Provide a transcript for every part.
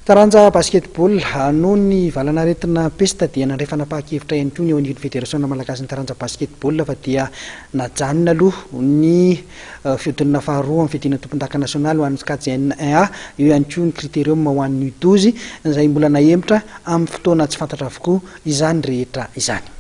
Taranja Basketball, Noho ny valanaretina pesta dia nandray fanapahan-kevitra ihany koa ny eo anivon'ny Federasiona malagasin'ny taranja basketball fa dia najanona aloha ny fihodinana faharoa amin'ny fiadiana tompondaka nasionaly ho an'ny Skats N1 A. Eo ihany koa ny Criterium ho an'ny U12 izay mbola nahemotra amin'ny fotoana tsy fantatra avokoa. izany rehetra izany.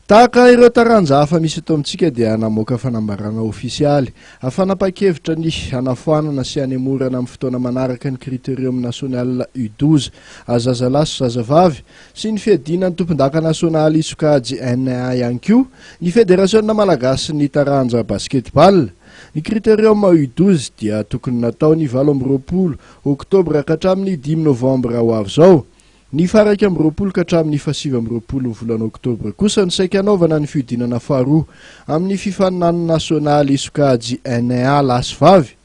Tahaka ireo taranja hafa misy eto amintsika dia namoaka fanambarana ofisialy fanapa-kevitra ny hanafoanana sy hanemorana amin'ny fotoana manaraka ny Critérium National U12 zazalahy sy zazavavy sy ny fiadiana ny tompondaka nasionaly sokajy NA ihany koa ny Federasiona malagasin'ny taranja basketball. Ny Critérium U douze dia tokony natao ny valo amby roapolo oktobra ka hatramin'ny dimy novambra ho avy izao. Ny faha iraika amby roapolo ka hatramin'ny faha sivy amby roapolon'ny volana oktobra kosa no saika hanaovana ny fihodinana faharoa amin'ny fifaninanana nasionaly sokajy NA lahy sy vavy.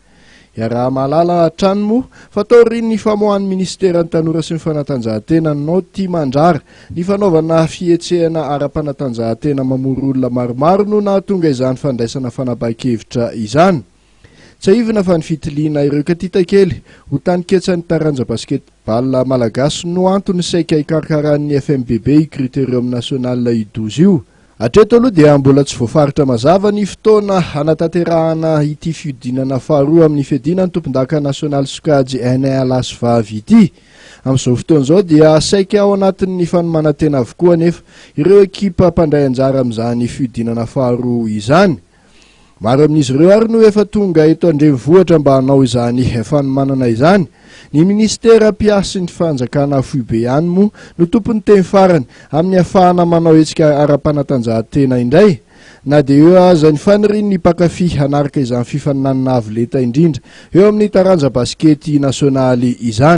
Iaraha-mahalala hatrany moa fa taorian'ny famoahan'ny minisiteran'ny Tanora sy ny fanatanjahantena ny Nao Tia Mandrara, ny fanaovana fihetsehana ara-panatanjahantena mamory olona maromaro no nahatonga izany fandraisana fanapahan-kevitra izany. Tsiahivina fa ny fitiliana ireo katitakely ho taniketsan'ny taranja basket-ball malagasy no antony saika hikarkaran'ny FMBB io Critérium National idoz io. Hatreto aloha dia mbola tsy voafaritra mazava ny fotoana hanatanterahana ity fihodinana faharoa amin'ny fiadiana ny tompondaka nasionaly sokajy NA lasivavy ity. Amin'izao fotoana izao dia saika ao anatin'ny fanomanantena avokoa anefa ireo ekipa mpandray anjara amin'izany fihodinana faharoa izany. Maro amin'izy ireo ary no efa tonga eto an-drenivohitra mba hanao izany fanomanana izany. Ny minisitera mpiahy sy ny fanjakana foibe ihany moa no tompon'ny teny farany amin'ny hafahana manao hetsika ara-panatanjahantena indray, na dia eo aza ny fanirian'ny mpankafy hanaraka izany fifaninanana avo lenta indrindra eo amin'ny taranja basikety nasionaly izany.